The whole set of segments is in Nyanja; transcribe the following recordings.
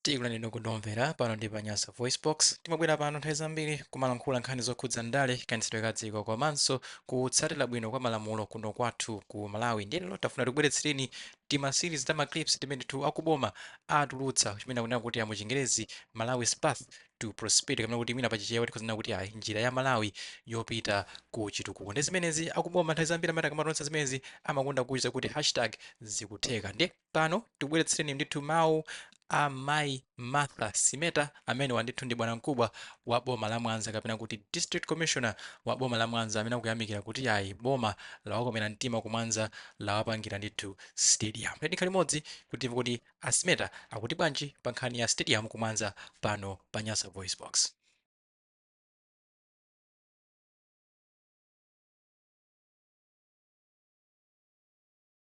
tikulandireni ndinu omvera pano ndi pa nyasa voice box timabwera pano nthawi zambiri kumalankhula nkhani zokhudza ndale kayendetsedwe ka dziko komanso kutsatira bwino kwa malamulo kuno kwathu ku malawi ndiye lero tafuna tikubweretsereni tima series ta maclips timene ndithu akuboma atulutsa chimene akunena kuti amuchingerezi malawi's path to prosperity kapena kuti mwina pachichewa tikhoza kunena kuti ayi njira ya malawi yopita ku chitukuko ndi zimenezi akuboma nthawi zambiri amati akamatulutsa zimenezi amakonda kuuza kuti hashtag zikutheka ndiye pano tikubweretsereni ndithu mawu a mayi martha sineta amenewa ndithu ndi bwanamkubwa wa boma la mwanza kapena kuti district commissioner wa boma la mwanza amene akuyamikira kuti ayi boma lawakomera mtima ku mwanza lawapangira ndithu stadium tikhale limodzi kuti timve kuti a sineta akuti bwanji pa nkhani ya stadium ku mwanza pano pa nyasa voice box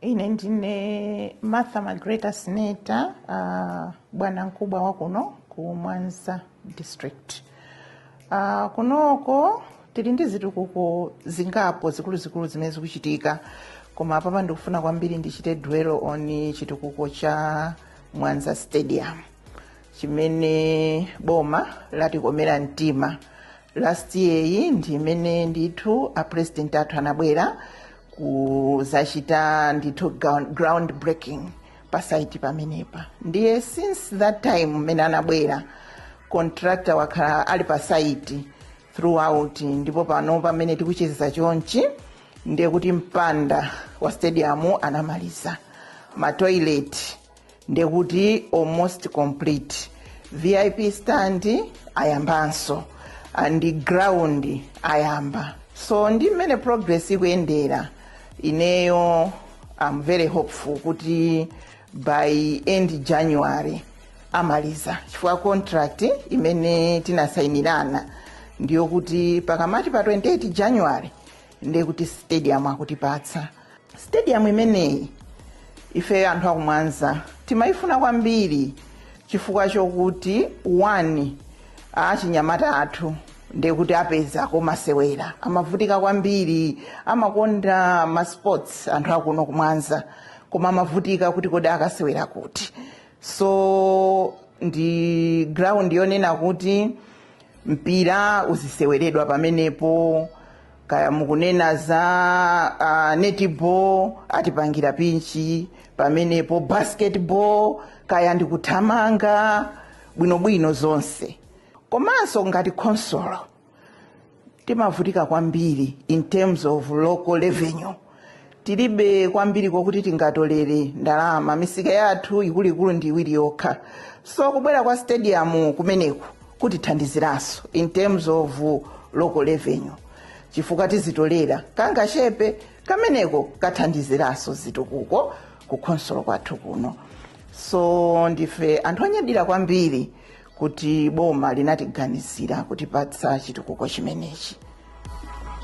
Ine ndine Martha Magreta Sineta, uh, bwana mkubwa wa kuno ku Mwanza district. Uh, kunoko tili ndi zitukuko zingapo zikuluzikulu zimene zikuchitika koma apapa ndikufuna kwambiri ndichite dwell on chitukuko cha Mwanza Stadium chimene boma latikomera mtima last year iyi ndi imene ndithu a president athu anabwera kuzachita ndithu ground breaking pasaiti pamenepa ndiye since that time mmene anabwera contractor wakhala ali pasaiti throughout ndipo pano pamene tikucheza chonchi ndiye kuti mpanda wa stadium anamaliza matoilet ndekuti almost complete vip stand ayambanso and ground ayamba so ndi mmene progress ikuyendera ineyo am very hopeful kuti by end january amaliza chifukwa contract imene tinasayinirana ndiyo kuti pakamati pa 28 january ndekuti stadium akutipatsa stadium imeneyi ife anthu akumwanza timayifuna kwambiri chifukwa chokuti one achinyamata athu ndekuti apeza komasewera amavutika kwambiri amakonda masports anthu akuno kumwanza koma amavutika kuti kodi akasewera kuti so ndi ground yonena kuti mpira uziseweredwa pamenepo kaya mukunena za uh, netball atipangira pinchi pamenepo basketball kaya ndikuthamanga bwinobwino zonse komanso ngati khonsolo timavutika kwambiri in terms of local revenue tilibe kwambiri kokuti tingatolere ndalama misika yathu ikuluikulu ndi iwiri yokha so kubwera kwa stadium kumeneku kutithandiziranso in terms of local revenue chifukwa tizitolera kangachepe kameneko kathandiziranso zitukuko ku khonsolo kwathu kuno so ndife anthu anyadira kwambiri kuti boma linatiganizira kutipatsa chitukuko chimenechi